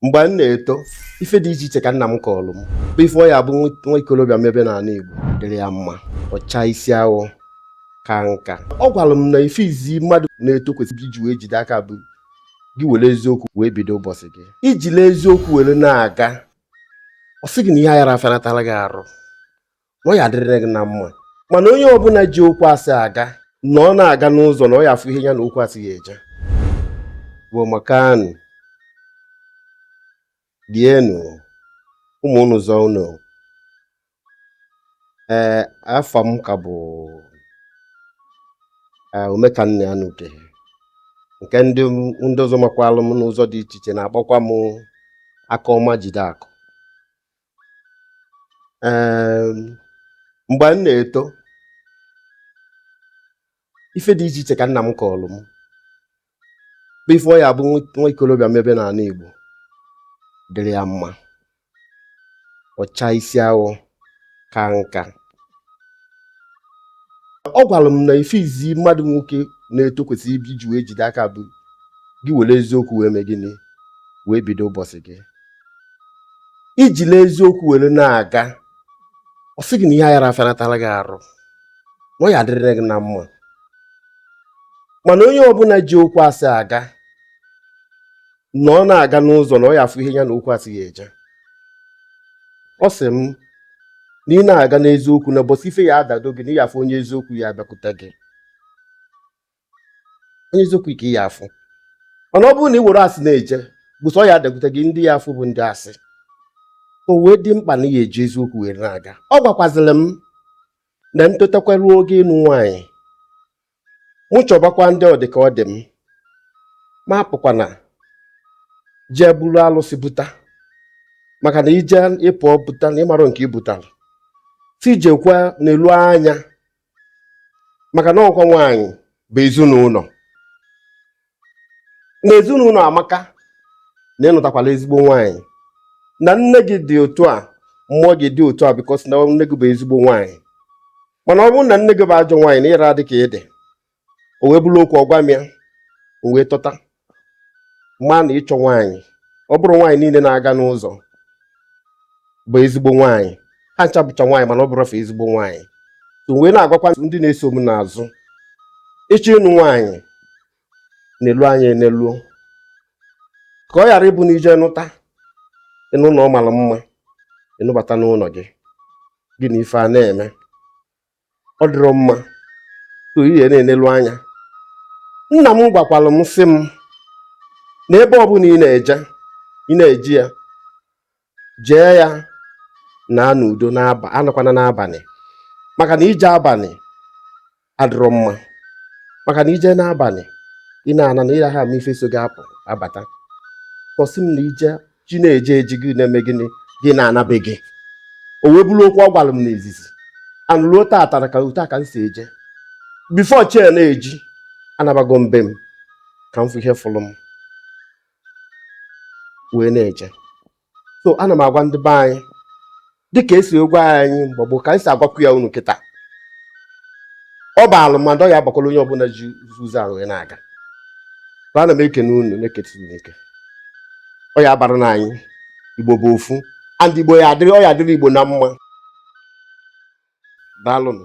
mgbe m na-eto ife dị iche iche ka nna m kọọlụ m bụ ife ọ ya abụ nwa ikolobịa mebe n'ana Igbo dịrị ya mma ọ chaa isi awọ kaa nka ọ gwalụ m na ife izi mmadụ na-eto kwesịrị iji wee jide aka bụ gị were eziokwu wee bido ụbọsị gị i jili eziokwu were na-aga ọ sị gị na ihe ayara afịanatala gị arụ na ọ ya adịrịrị gị na mma mana onye ọbụna ji okwu asị aga na ọ na-aga n'ụzọ na ọ ya afụ ihe ya na okwu asị ya eje Igbo amaka nụ rie nụ mụọ nụ zụọ nụ ee afa m ka bụ Omekannaya n'Uke nke ndị ndị ọzọ makwalụ m n'ụzọ dị iche iche na-akpọkwa m aka ọma jide akụ mgbe m na-eto ife dị iche iche ka nna m kọọlụ m bụ ife ọ ya abụ nwa ikolobịa mebe n'ana Igbo dịrị ya mma ọ chaa isi awọ kaa nka ọ gwalụ m na ife izi mmadụ nwoke na-eto kwesịrị iji wee jide aka bụ gị were eziokwu wee mee gịnị wee bido ụbọsị gị i jili eziokwu were na-aga ọ sị gị na ihe ayara afịanatala gị arụ na ọ ya adịrịrị gị na mma mana onye ọbụna ji okwu asị aga na ọ na-aga n'ụzọ na ọ ya afụ ihe ya na okwu asị ya eje ọ sị m na ị na-aga n'eziokwu na ụbọsị ife ya adado gị na ị ya afụ onye eziokwu ya abịakwute gị onye eziokwu ka ị ya afụ mana ọ bụrụ na ị were asị na-eje ụbọsị ọ ya adakwute gị ndị ị ya afụ bụ ndị asị o wee dị mkpa na ị ya eji eziokwu were na-aga ọ gwakwazịlị m na m totakwa ruo oge ịnụ nwaanyị mụ chọbakwa ndị ọ dị ka ọ dị m mụ apụkwana jee buru alụsị buta maka na i jee ị pụọ buta na ị marọ nke i butalụ sị jekwa nelu anya maka na ọ bụkwa nwaanyị bụ ezinụnọ na ezinụnọ amaka na ị nụtakwala ezigbo nwaanyị na nne gị dị otu a mụọ gị ị dị otu a because na nne gị bụ ezigbo nwaanyị mana ọ bụrụ na nne gị bụ ajọ nwaanyị na ịra adị ka ị dị o wee bụrụ okwu ọ gwa m ya m wee tota ma na ịchọ nwaanyị ọ bụrọ nwaanyị niile na-aga n'ụzọ bụ ezigbo nwaanyị ha ncha bụcha nwaanyị mana ọ bụrọ fa ezigbo nwaanyị so wee na-agwakwa ndị na-eso m n'azụ ị chọọ ịnụ nwaanyị nelu anya eneluo ka ọ ghara ịbụ na i jee nụta ị nụ na ọ malụ mma ị nụbata n'ụnọ gị gị na ife a na-eme ọ dịrọ mma so ị ga na-enelu anya nna m gwakwara m sị m na ebe ọbụla ị na-eje ị na-eji ya jee ya naa n'udo n'aba anọkwana n'abalị maka na ije abalị adịrọ mma maka na ije n'abalị ị na-ana na ịraha ama ife so gị apụ abata ọ sị m na ije chi na-eje eji gị na-eme gịnị gị na-ana be gị o wee bụrụ okwu ọ gwara m n'izizi and ruo taata na ka otu a ka m si eje before chi na-eji anabago m be m ka m fụ ihe fụrụ m wee na-eje so ana m agwa ndị be anyị dịka e si agwa anyị mgbe gboo ka anyị si agwakwu ya unu kịta ọ baalụ m and ọ ya abakwalụ onye ọbụla ji ụzọ ahụ wee na-aga but ana m ekene unu na-ekete unu eke ọ ya abara na anyị igbo bụ ofu and igbo ya adịrị ọ ya adịrị igbo na mma daalụnụ